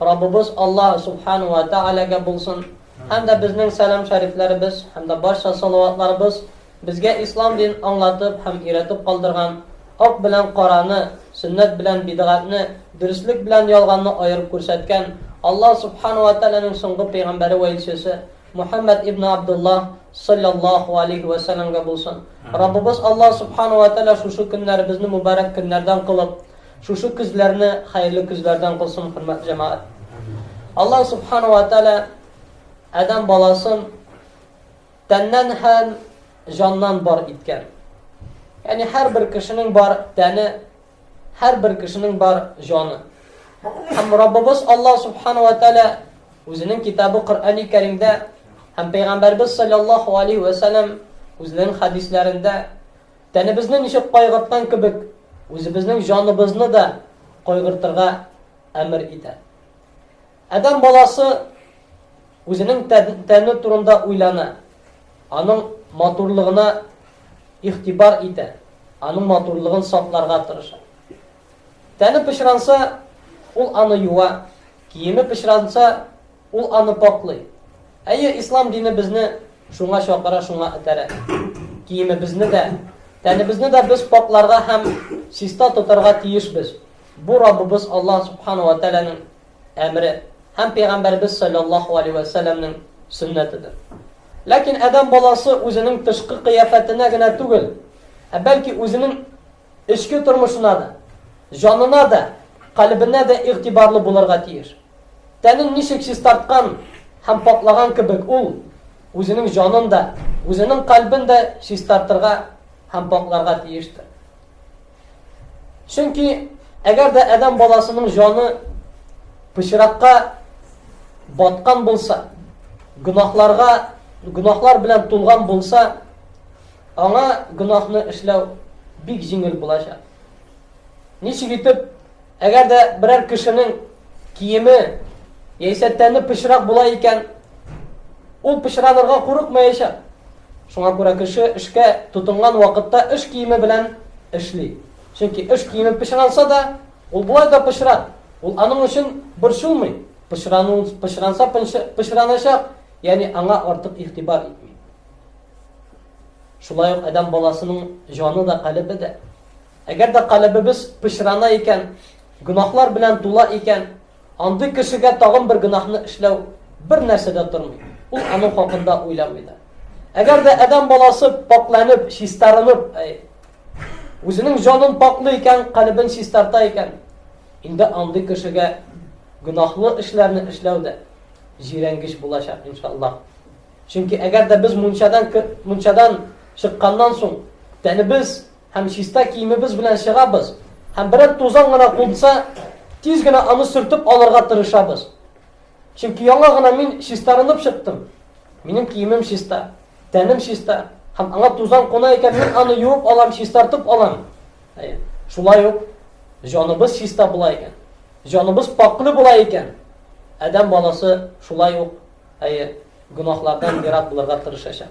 Раббыбыз Аллаһ Субхана уә Тәгаләгә булсын, һәм дә безнең сәлам шәрифләребез һәм дә барча салаватларыбыз безгә ислам динен аңлатып һәм өйрәтеп калдырган, ак белән караны, сөннәт белән бидгатьне, дөреслек белән ялганны аерып күрсәткән Аллаһ Субхана уә Тәгаләнең соңгы пәйгамбәре вә илчесе Мухәммәд ибне Абдуллаһ салләллаһу алейһи уә сәламгә булсын. Раббыбыз Аллаһ Субхана уә Тәгалә шушы көннәребезне мөбарәк көннәрдән кылып, Шушы көзләрне хәерле көзләрдән кылсын, хөрмәтле җәмәгать. Аллаһ Субхана ва Тәгалә Адәм баласын тәннән һәм җаннан бар иткән. Ягъни һәрбер кешенең бар тәне, һәрбер кешенең бар җаны. Һәм Раббыбыз Аллаһ Субхана ва Тәгалә үзенең китабы Коръәни Кәримдә һәм Пәйгамбәрбез саллаллаһу алейхи ва саллям үзенең хәдисләрендә Тәнебезне ничек кайгырткан кебек, үзебезнең җаныбызны да кайгыртырга әмер итә. Адам баласы үзенең тәне турында уйлана, аның матурлыгына ихтибар итә, аның матурлыгын сакларга тырыша. Тәне пычранса, ул аны юа, киеме пычранса, Ул аны пакълый. Әйе, ислам дине безне шуңа чакыра, шуңа этәрә. Киемебезне дә, тәнебезне дә без пакъларга һәм чиста тотарга тиешбез. Бу Раббыбыз Аллаһ субхана ва тәгаләнең әмере һәм пәйгамбәребез саллаллаху алейһи ва сәлләмнең сөннәтедер. Ләкин адәм баласы үзенең тышкы кыяфәтенә генә түгел, ә бәлки үзенең Эчке тормышына да, җанына да, калебенә дә игътибарлы булырга тиеш. Тәнен ничек чистарткан һәм паклаган кебек ул үзенең җанын да, үзенең калебен дә чистартырга һәм пакларга тиештер. Чөнки әгәр дә адәм баласының җаны пычракка баткан булса, гөнаһларга, гөнаһлар белән тулган булса, Аңа гөнаһны эшләү бик җиңел булачак. Ничек итеп, әгәр дә берәр кешенең киеме яисә тәне пычрак була икән, ул пычранырга курыкмаячак. Шуңа күрә кеше эшкә тотынган вакытта эш киеме белән эшли. Чөнки эш киеме пычранса да, ул болай да пычрак. Ул аның өчен борчылмый. Пычранса пычраначак, ягъни аңа артык игътибар итми. Шулай ук адәм баласының җаны да, калебе дә. Әгәр дә калебебез пычрана икән, гөнаһлар белән тула икән, андый кешегә тагын бер гөнаһны эшләү бер нәрсә дә тормый. Ул аның хакында уйламый да. Әгәр дә адәм баласы пакьләнеп, чистарынып, үзенең җанын пакьлый икән, калебен чистарта икән, инде андый кешегә гөнаһлы эшләрне эшләү дә җирәнгеч булачак, иншаллаһ. Чөнки әгәр дә без мунчадан мунчадан чыкканнан соң тәнебез һәм чиста киемебез белән чыгабыз һәм берәр тузан гына кунса, тиз генә аны сөртеп алырга тырышабыз. Чөнки яңа гына мин чистарынып чыктым. Минем киемем чиста, тәнем чиста, һәм аңа тузан куна икән, мин аны юып алам, чистартып алам. Әйе. Шулай ук җаныбыз чиста була икән, җаныбыз пакьле була икән, адәм баласы шулай ук Әйе, гөнаһлардан ерак булырга тырышачак.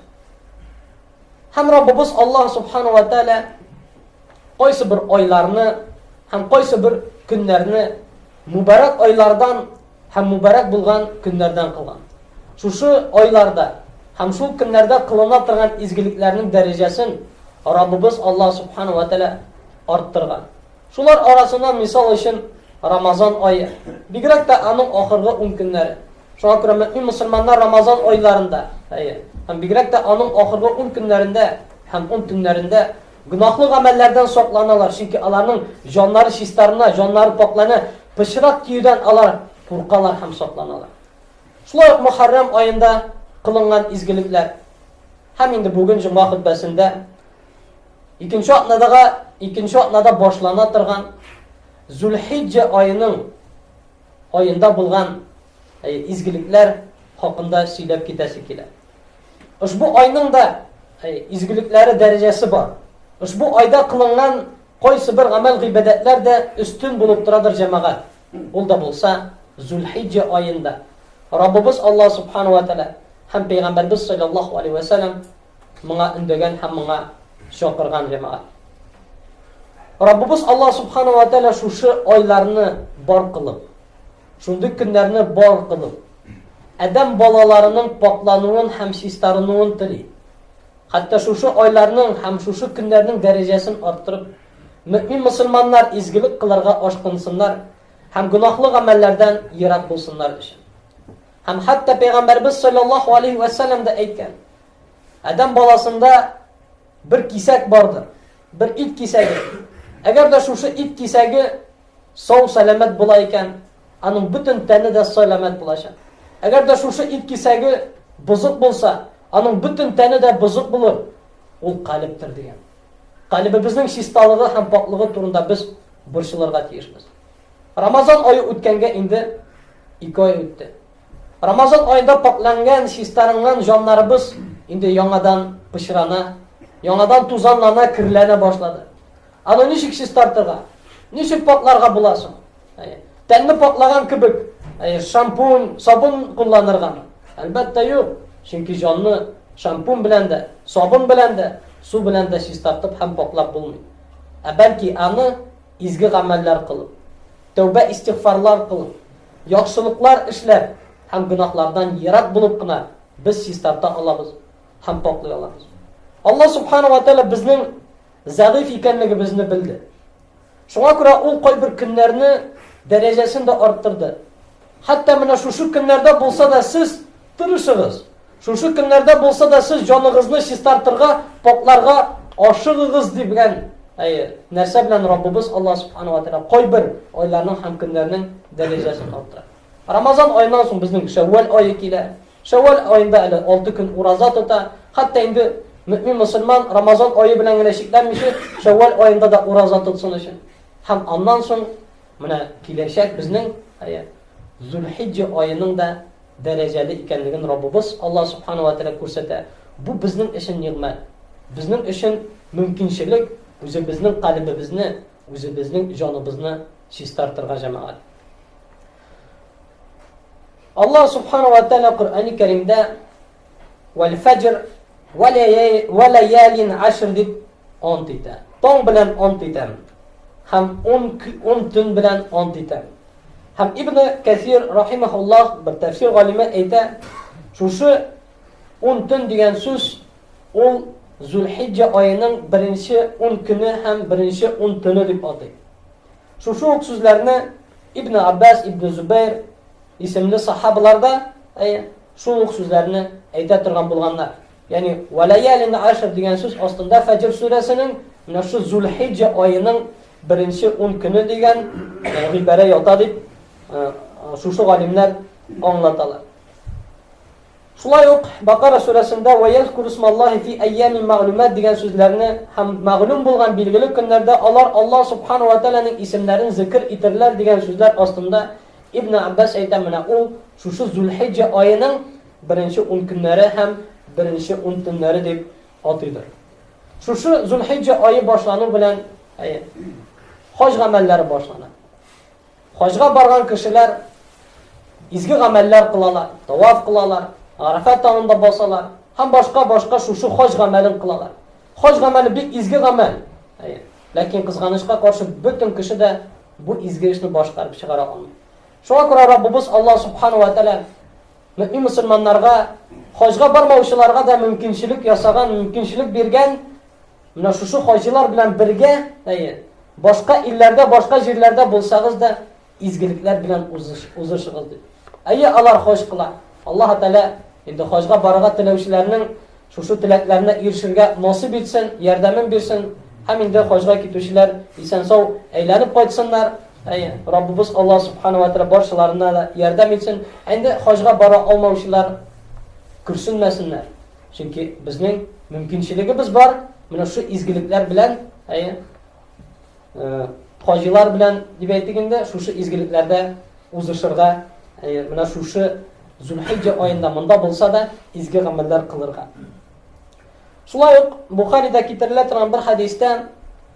Һәм Раббыбыз Аллаһ Субхану ва Тәала кайсы бер айларны һәм кайсы бер көннәрне мубарак айлардан һәм мубарак булган көннәрдән кылган. Шушы айларда һәм шул көннәрдә кылына торган изгелекләрнең дәрәҗәсен Раббыбыз Аллаһ Субхану ва Тәала арттырган. Шулар арасыннан мисал өчен Рамазан ае, бигрәк тә аның ахыргы ун көннәре. Шуңа күрә мөэмин мөселманнар Рамазан айларында, әйе, һәм бигрәк тә аның ахыргы ун көннәрендә һәм ун төннәрендә гөнаһлы гамәлләрдән сакланалар, чөнки аларның җаннары чистарына, җаннары пакьлана, пычрак киюдән алар куркалар һәм сакланалар. Шулай ук Мөхәррәм аенда кылынган изгелекләр һәм инде бүген җомга хөтбәсендә Икенче атнадагы, икенче атнада башлана торган Зулхиҗҗә аеның аенда булган э, изгелекләр хакында сөйләп китәсе килә. Ошбу айның да э, изгелекләре дәрәҗәсе бар. Ошбу айда кылынган кайсы бер гамәл гыйбадәтләр дә өстен булып торадыр җәмәгать. Ул да булса Зулхиҗҗә аенда. Раббыбыз Алла субхану ва тааля һәм пәйгамбәрбез саллаллаһу алейһи ва саллям моңа өндәгән һәм моңа чакырган җәмәгать. Раббыбыз Аллаһ субханаһу ва тәгалә шушы айларны бар кылып, шундый көннәрне бар кылып, адәм балаларының пакълануын һәм чистарынуын тели. Хәтта шушы айларның һәм шушы көннәрнең дәрәҗәсен арттырып, мөмин мусламаннар изгелек кылырга ашкынсыннар һәм гынахлы гамәлләрдән ерак булсыннар өчен. Һәм хәтта пәйгамбәрбез саллаллаһу алейһи вә сәлләм дә әйткән. Адәм баласында бер кисәк бардыр. Бер ит кисәге. Әгәр дә шушы ит кисәге сау сәламәт була икән, аның бөтен тәне дә сәламәт булачак. Әгәр дә шушы ит кисәге бозык булса, аның бөтен тәне дә бозык булыр. Ул калептер дигән. Калебебезнең чисталыгы һәм пакьлыгы турында без борчылырга тиешбез. Рамазан ае үткәнгә инде ике ай үтте. Рамазан аенда пакьләнгән, чистарынган җаннарыбыз инде яңадан пычрана, яңадан тузанлана, керләнә башлады. Аны ничек чистартырга? Ничек пакьларга була соң? Тәнне пакьлаган кебек, шампунь, сабын кулланыргамы? Әлбәттә, юк. Чөнки җанны шампунь белән дә, сабын белән дә, су белән дә чистартып һәм пакьлап булмый. Ә бәлки аны Изге гамәлләр кылып, тәүбә-истигъфарлар кылып, яхшылыклар эшләп һәм гөнаһлардан ерак булып кына без чистарта алабыз һәм пакьлый алабыз. Алла субхана ва тәгалә безнең зәгыйфь икәнлегебезне белде. Шуңа күрә ул кайбер көннәрне дәрәҗәсен дә арттырды. Хәтта менә шушы көннәрдә булса да сез Тырышыгыз! Шушы көннәрдә булса да сез җаныгызны чистартырга, покларга ашыгыгыз, ди белән Әйе, нәрсә белән Раббыбыз Аллаһ Субхану ва Тәгалә кайбер айларның һәм көннәрнең дәрәҗәсен арттыра. Рамазан аеннан соң безнең Шәввал ае килә. Шәввал аенда әле 6 көн ураза тота. Хәтта инде мөмин мусульман Рамазан ае белән генә чикләнмичә, Шәввал аенда да ураза тотсын өчен. Һәм аннан соң менә киләчәк безнең, әйе, Зулхиҗҗа аеның да дәрәҗәле икәнлеген Раббыбыз Аллаһ Субхана уә Тәгалә күрсәтә. Бу безнең өчен нигъмәт. Безнең өчен мөмкинчелек үзебезнең калебебезне, үзебезнең җаныбызны чистартырга, җәмәгать. Аллаһ Субхана уә Тәгалә Коръәни Кәримдә Вәл фәҗр вә ләялин ашр дип ант итә. Таң белән ант итәм. Һәм ун, ун төн белән ант итәм. Һәм Ибн Кәсир рахимахуллах бер тәфсир галиме әйтә, шушы ун төн дигән сүз ул Зулхиҗҗа аеның беренче ун көне һәм беренче ун төне дип атый. Шушы ук сүзләрне Ибне Аббас, Ибне Зубәйр исемле сахабалар да шул ук сүзләрне әйтә торган булганнар. Ягъни валаялин ашр дигән сүз астында Фаҗр сүрәсенең менә шу Зулхиҗҗа аеның беренче 10 көне дигән гыйбарә ята дип шушы галимнәр аңлаталар. Шулай ук Бакара сүрәсендә Вә йәзкүрүсмәллаһи фи әйямин мәгълүмәт дигән сүзләрне һәм мәгълүм булган билгеле көннәрдә алар Аллаһ Субхана уә Тәгаләнең исемнәрен зикер итерләр дигән сүзләр астында Ибне Аббас әйтә, менә ул шушы Зул-Хиҗҗә аеның беренче ун көннәре һәм беренче ун төннәре дип атыйдыр. Шушы Зул-Хиҗҗә ае башлану белән, әйе, хаҗ гамәлләре башлана. Хаҗга барган кешеләр изге гамәлләр кылалар, таваф кылалар, Арафа таңында басалар һәм башка-башка шушы хаҗ гамәлен кылалар. Хаҗ гамәле бик изге гамәл. Әйе. Ләкин кызганычка каршы бөтен кеше дә бу изге эшне башкарып чыгара алмый. Шуңа күрә Раббыбыз Аллаһ субханаһу ва тааля мөмин мусульманнарга хаҗга бармаучыларга да мөмкинчелек ясаган, мөмкинчелек биргән, Менә шушы хаҗилар белән бергә, әйе, башка илләрдә, башка җирләрдә булсагыз да, изгелекләр белән узыш, узышыгыз ди. Әйе, алар хаҗ кыла. Аллаһ Тәгалә инде хаҗга барырга теләүчеләрнең шушы теләкләренә ирешергә насыйп итсен, ярдәмен бирсен. Һәм инде хаҗга китүчеләр исән-сау әйләнеп кайтсыннар. Әйе, Раббыбыз Аллаһ Субхана ва Тәгалә баршаларына да ярдәм итсен. Әнде хаҗга бара алмаучылар көрсенмәсеннәр. Чөнки безнең мөмкинчелегебез бар, менә шул изгелекләр белән, әйе, э, хаҗилар белән дип әйтик инде, шушы изгелекләрдә узышырга, әйе, менә шушы Зулхиҗҗа аенда монда булса да изге гамәлләр кылырга. Шулай ук Бухарида китерелә торган бер хадистә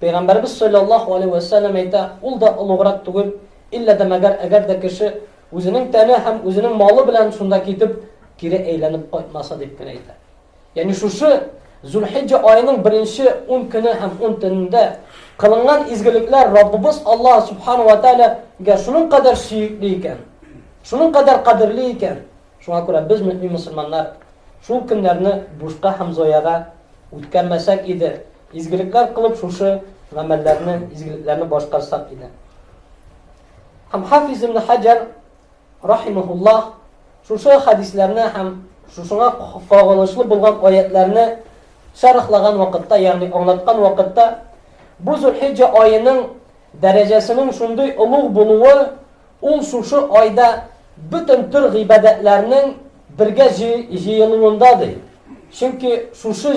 Пәйгамбәребез салләллаһу алейһи вә сәлләм әйтә, ул да олуграк түгел, иллә дә мәгәр әгәр дә кеше үзенең тәне һәм үзенең малы белән шунда китеп, кире әйләнеп кайтмаса дип кенә әйтә. Ягъни шушы Зулхиҗҗа аеның беренче 10 көне һәм 10 төнендә кылынган изгелекләр Раббыбыз Аллаһ субхану ва таалагә шуның кадәр сөекле икән, шуның кадәр кадерле икән, Шуңа күрә без, мөэмин мөселманнар, шул көннәрне бушка һәм зояга үткәрмәсәк иде, изгелекләр кылып шушы гамәлләрне, изгелекләрне башкарсак иде. Һәм Хафиз ибн Хаҗар рахимахуллаһ шушы хәдисләрне һәм шушыңа кагылышлы булган аятларны шәрехлаган вакытта, ягъни аңлаткан вакытта, бу Зулхиҗҗа аеның дәрәҗәсенең шундый олуг булуы Ул шушы айда бөтен төр гыйбадәтләрнең бергә җыелуында, ди. Чөнки шушы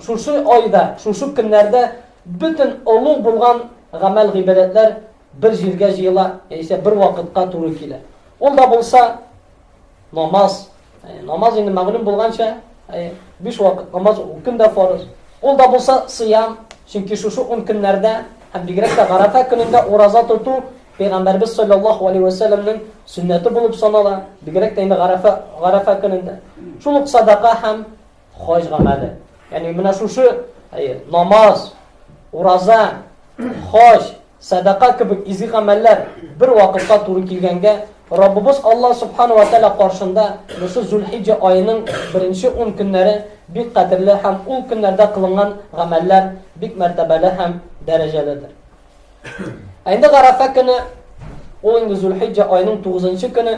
шушы айда, шушы көннәрдә бөтен олуг булган гамәл-гыйбадәтләр бер җиргә җыела, яисә бер вакытка туры килә. Ул да булса, Намаз. Намаз инде мәгълүм булганча, биш вакыт намаз көн дә фарыз. Ул да булса сыям, чөнки шушы ун көннәрдә һәм бигрәк тә Гарафа көнендә ураза тоту Пәйгамбәрбез саллаллаһу алейһи ва сәлламнең сөннәте булып санала, бигрәк тә инде Гарафа Гарафа көнендә. Шул ук садака һәм хаҗ гамәле. Ягъни менә шушы намаз, ураза, хаҗ, садака кебек изге гамәлләр бер вакытта туры килгәнгә, Раббыбыз Аллаһ субхану ва тааля каршында бусы Зулхиҗҗа аеның беренче 10 көннәре бик кадерле һәм ул көннәрдә кылынган гамәлләр бик мәртәбәле һәм дәрәҗәледер. Әйдә Гарафа көне, ул инде Зулхиҗҗа аеның 9 көне,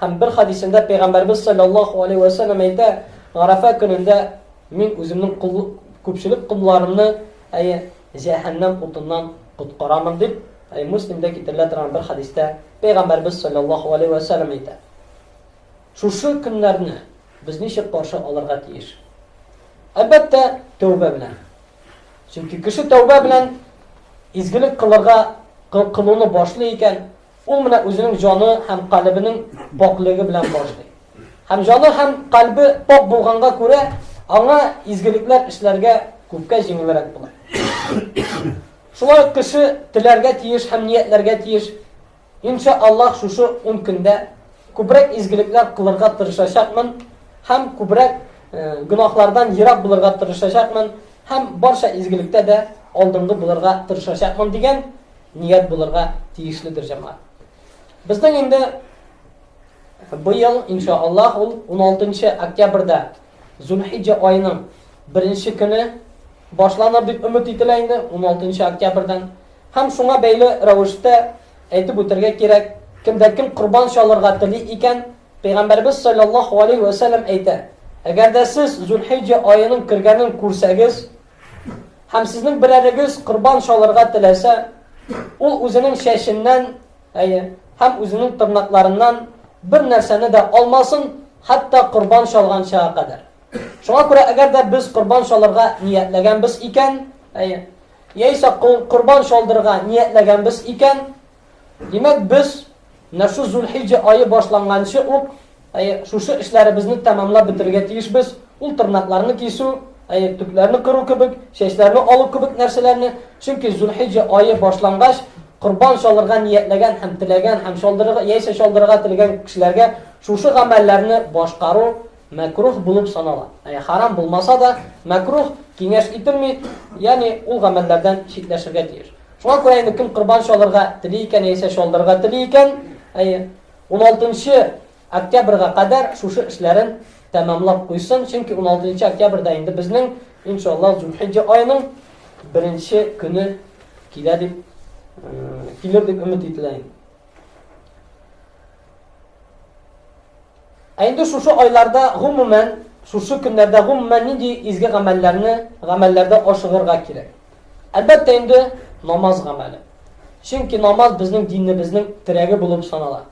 Һәм бер хәдисендә Пәйгамбәрбез салләллаһу алейһи вә сәлләм әйтә, Гарәфә көнендә мин үземнең кол, күпчелек колларымны, әйе, җәһәннәм утыннан коткарамын, дип, әйе, Муслимдә китерелә торган бер хәдистә Пәйгамбәрбез салләллаһу алейһи вә сәлләм әйтә. Шушы көннәрне без ничек каршы алырга тиеш? Әлбәттә, тәүбә белән. Чөнки кеше тәүбә белән изгелек кылырга кылуны башлый икән, Ул менә үзенең җаны һәм калебенең пакьлеге белән башлый. Һәм җаны һәм калбе пакь булганга күрә, аңа изгелекләр эшләргә күпкә җиңелрәк була. Шулай ук кеше теләргә тиеш һәм ниятләргә тиеш, Инша Аллаһ шушы ун көндә күбрәк изгелекләр кылырга тырышачакмын һәм күбрәк гөнаһлардан ерак булырга тырышачакмын һәм барча изгелектә дә алдынгы булырга тырышачакмын дигән ният булырга тиешледер җәмәгать. Безнең инде быел иншааллаһ ул 16 октябрьдә Зулхиҗҗа аеның беренче көне башланыр дип өмет ителә инде 16 октябрьдән. Һәм шуңа бәйле рәвештә әйтеп үтәргә кирәк, кемдә кем корбан чалырга тели икән, Пәйгамбәрбез саллаллаһу алейһи ва сәлләм әйтә, әгәр дә сез Зулхиҗҗа аеның кергәнен күрсәгез, Һәм сезнең берәрегез корбан чалырга теләсә, ул үзенең чәченнән, әйе, һәм үзенең тырнакларыннан бер нәрсәне дә алмасын, хәтта корбан чалган чага кадәр. Шуңа күрә, әгәр дә без корбан чалырга ниятләгәнбез икән, әйе, яисә корбан чалдырырга ниятләгәнбез икән, Димәк, без менә шу Зулхиҗҗә ае башланганчы ук, әйе, шушы эшләребезне тәмамлап бетерергә тиешбез. Ул тырнакларны кисү, әйе, төкләрне кыру кебек, чәчләрне алу кебек нәрсәләрне, чөнки Зулхиҗҗә ае башлангач, корбан чалырга ниятләгән һәм теләгән һәм чалдырырга яисә чалдырырга теләгән кешеләргә шушы гамәлләрне башкару Мәкруһ булып санала. Ә харам булмаса да, мәкруһ, киңәш ителми, ягъни ул гамәлләрдән читләшергә тиеш. Шуңа күрә инде кем корбан чалырга тели икән яисә чалдырырга тели икән, әйе, 16 октябрьгә кадәр шушы эшләрен тәмамлап куйсын, чөнки 16 октябрьдә инде безнең, иншаллаһ, Зулхиҗҗа аеның беренче көне килә дип килер дип өмет ителә. Ә инде шушы айларда, гомумән, шушы көннәрдә, гомумән, нинди изге гамәлләрне, гамәлләрдә ашыгырга кирәк? Әлбәттә инде, намаз гамәле. Чөнки намаз безнең динебезнең терәге булып санала.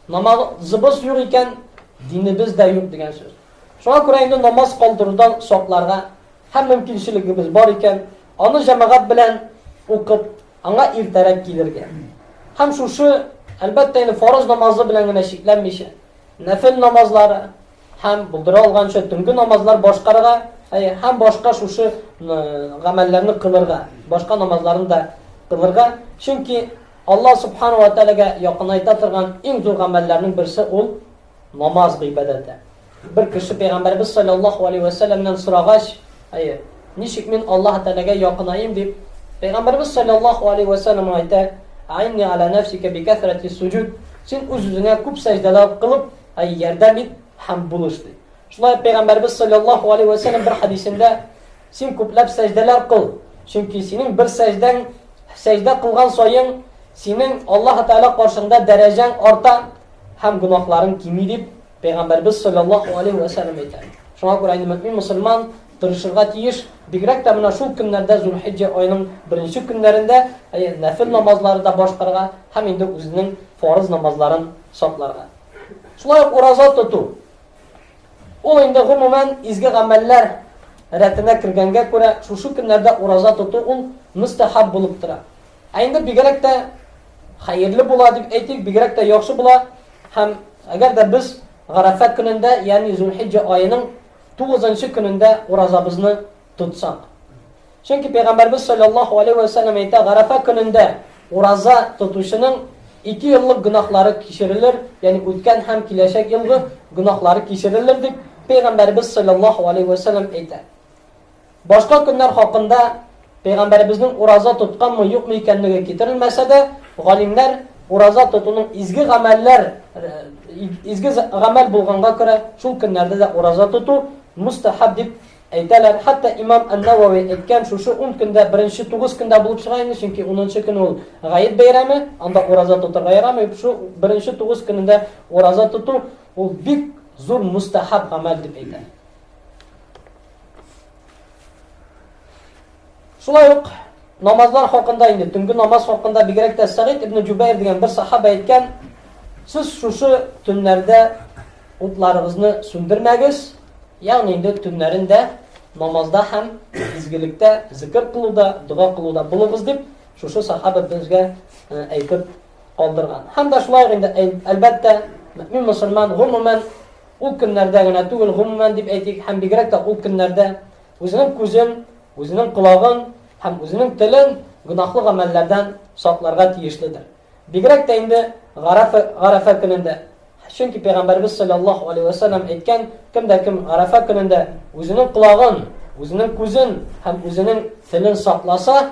Намазыбыз юк икән, динебез дә юк дигән сүз. Шуңа күрә инде намаз калдырудан сакларга һәм мөмкинчелегебез бар икән, аны җәмәгать белән укып, Аңа иртәрәк килергә. Һәм шушы, әлбәттә инде, фарыз намазы белән генә чикләнмичә, нәфел намазлары һәм булдыра алганча төнге намазлар башкарырга, әйе, һәм башка шушы гамәлләрне кылырга, башка намазларны да кылырга, чөнки Алла субхана ва тәгаләгә якынайта торган иң зур гамәлләрнең берсе ул намаз гыйбадәте. Бер кеше Пәйгамбәребез салләллаһу алейһи вә сәлләмнән сорагач, Әйе, ничек мин Аллаһ Тәгаләгә якынаем? дип, Пәйгамбәребез салләллаһу алейһи вә сәлләм аңа әйтә, Әгъинни ала нәфсика би кәсрәти суҗүд, син үз-үзеңә күп сәҗдәләр кылып, әй, ярдәм ит һәм булыш, ди. Шулай ук Пәйгамбәребез салләллаһу алейһи вә сәлләм бер хәдисендә, Син күпләп сәҗдәләр кыл, чөнки синең бер сәҗдәң, сәҗдә кылган саен, синең Аллаһ Тәгалә каршыңда дәрәҗәң арта һәм гөнаһларың кими, дип Пәйгамбәребез салләллаһу алейһи вә сәлләм әйтә. Шуңа күрә инде мөэмин мөселман тырышырга тиеш, бигрәк тә менә шул көннәрдә, Зулхиҗҗә аеның беренче көннәрендә, әйе, нәфел намазлары да башкарырга һәм инде үзенең фарыз намазларын сакларга. Шулай ук ураза тоту. Ул инде гомумән изге гамәлләр рәтенә кергәнгә күрә, шушы көннәрдә ураза тоту ул мөстәхаб булып тора. Ә инде бигрәк тә Хәерле була дип әйтик, бигрәк тә яхшы була. Һәм әгәр дә без Гарафа көнендә, ягъни Зулхиҗҗа аеның 9нчы көнендә уразабызны тотсак. Чөнки пәйгамбәрбез саллаллаһу алейһи ва саллям әйтә, Гарафа көнендә ураза тотучының ике еллык гөнаһлары кичерелер, ягъни үткән һәм киләчәк елгы гөнаһлары кичерелер дип пәйгамбәрбез саллаллаһу алейһи ва саллям әйтә. Башка көннәр хакында пәйгамбәребезнең ураза тотканмы, юкмы икәнлеге китерелмәсә дә, галимнәр ураза тотуның изге гамәлләр изге гамәл булганга күрә, шул көннәрдә дә ураза тоту мустахаб дип әйтәләр. Хәтта имам Ан-Навави әйткән, шушы 10 көндә беренче 9 көндә булып чыга инде, чөнки 10нчы көн ул гаеп бәйрәме, анда ураза тотырга ярамый. Шул беренче 9 көнендә ураза тоту ул бик зур мустахаб гамәл дип әйтә. Шулай ук намазлар хакында инде, төнге намаз хакында бигрәк тә Сәгыйд ибн Җубәйр дигән бер сахаба әйткән, сез шушы төннәрдә утларыгызны сүндермәгез, ягъни инде төннәрен дә намазда һәм изгелекдә, зикр кылуда, дога кылуда булыгыз дип, шушы сахаба безгә әйтеп калдырган. Һәм дә шулай инде, әлбәттә, мөмин мусульман гомумән Ул көннәрдә генә түгел, гомумән дип әйтик, һәм бигрәк тә ул көннәрдә үзенең күзен, үзенең колагын һәм үзенең телен гөнаһлы гамәлләрдән сакларга тиешледер. Бигрәк тә инде Гарәфә, Гарәфә көнендә. Чөнки Пәйгамбәребез салләллаһу алейһи вә сәлләм әйткән, кем дә кем Гарәфә көнендә үзенең колагын, үзенең күзен һәм үзенең телен сакласа,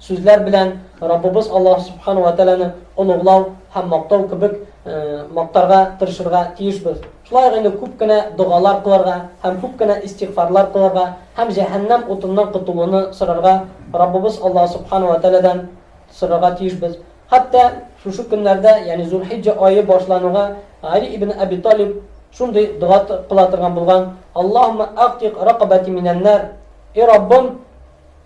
Сүзләр белән Раббыбыз Аллаһ Субхана уә Тәгаләне олуглау һәм мактау кебек мактарга тырышырга тиешбез. Шулай ук инде күп кенә догалар кылырга һәм күп кенә истигъфарлар кылырга һәм җәһәннәм утыннан котылуны сорарга Раббыбыз Аллаһ Субхана уә Тәгаләдән сорарга тиешбез. Хәтта шушы көннәрдә, ягъни Зулхиҗҗә ае башлануга Гали ибн Әби Талиб шундый дога кыла торган булган, Аллаһуммә әгътик ракабәти минән-нар, Эй Раббым,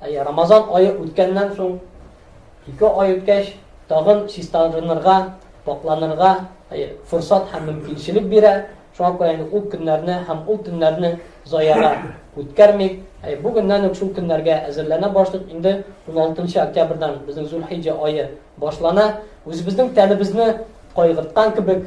Әйе, Рамазан ае үткәннән соң, ике ай үткәч, тагын чистарынырга, пакъланырга, әйе, форсат һәм мөмкинчелек бирә. Шуңа күрә инде ул көннәрне һәм ул төннәрне заяга үткәрмик. Әйе, бүгеннән үк шул көннәргә әзерләнә башлыйк. Инде 16 октябрьдән безнең Зулхиҗҗә ае башлана. Үзебезнең тәнебезне кайгырткан кебек,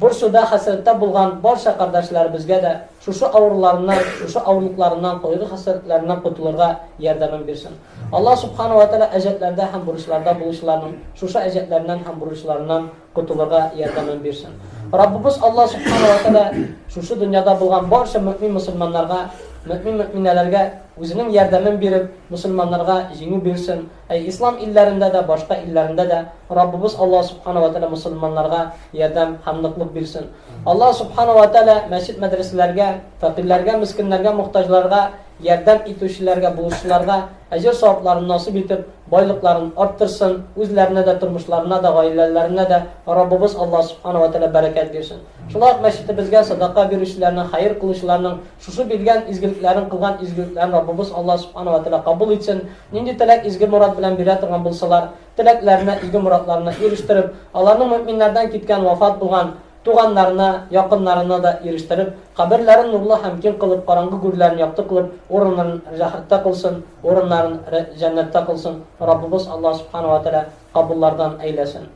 Борчуда, хәсрәттә булган барча кардәшләребезгә дә шушы авыруларыннан, шушы авырлыкларыннан, кайгы-хәсрәтләреннән котылырга ярдәмен бирсен. Аллаһ Субхана ва Тәгалә әҗәтләрдә һәм бурычларда булучыларның шушы әҗәтләреннән һәм бурычларыннан котылырга ярдәмен бирсен. Раббыбыз Аллаһ Субхана ва Тәгалә шушы дөньяда булган барча мөэмин-мөселманнарга, мөэмин-мөэминәләргә үзенең ярдәмен биреп, мөселманнарга җиңү бирсен. Әй, ислам илләрендә дә, башка илләрендә дә Раббыбыз Аллаһ Субхана ва Тәгалә мөселманнарга ярдәм һәм ныклык бирсен. Аллаһ Субхана ва Тәгалә мәчет-мәдрәсәләргә, фәкыйрьләргә, мескеннәргә, мохтаҗларга ярдәм итүчеләргә, булышучыларга әҗер-савапларын насыйп итеп, байлыкларын арттырсын, үзләренә дә, тормышларына да, гаиләләренә дә Раббыбыз Аллаһ Субхана ва Тәгалә бәрәкәт бирсен. Шулай ук мәчетебезгә садака бирүчеләрнең, хәер кылучыларның Шушы биргән изгелекләрең, кылган изгелекләрең Раббыбыз Аллаһ Субхана ва Тәгалә кабул итсен, нинди теләк, изге морад белән бирә торган булсалар, теләкләренә, изге морадларына ирештереп, аларны мөэминнәрдән киткән, вафат булган, туганнарына, якыннарына да ирештереп, каберләрен нурлы һәм киң кылып, караңгы гүрләрен якты кылып, урыннарын рәхәттә кылсын, урыннарын рә җәннәттә кылсын, Раббыбыз Аллаһ Субхана ва Тәгалә кабуллардан әйләсен.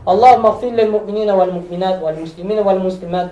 Аллаһуммә гъфир лил-мөэминина вәл-мөэминат, вәл-мөслимина вәл-мөслимат,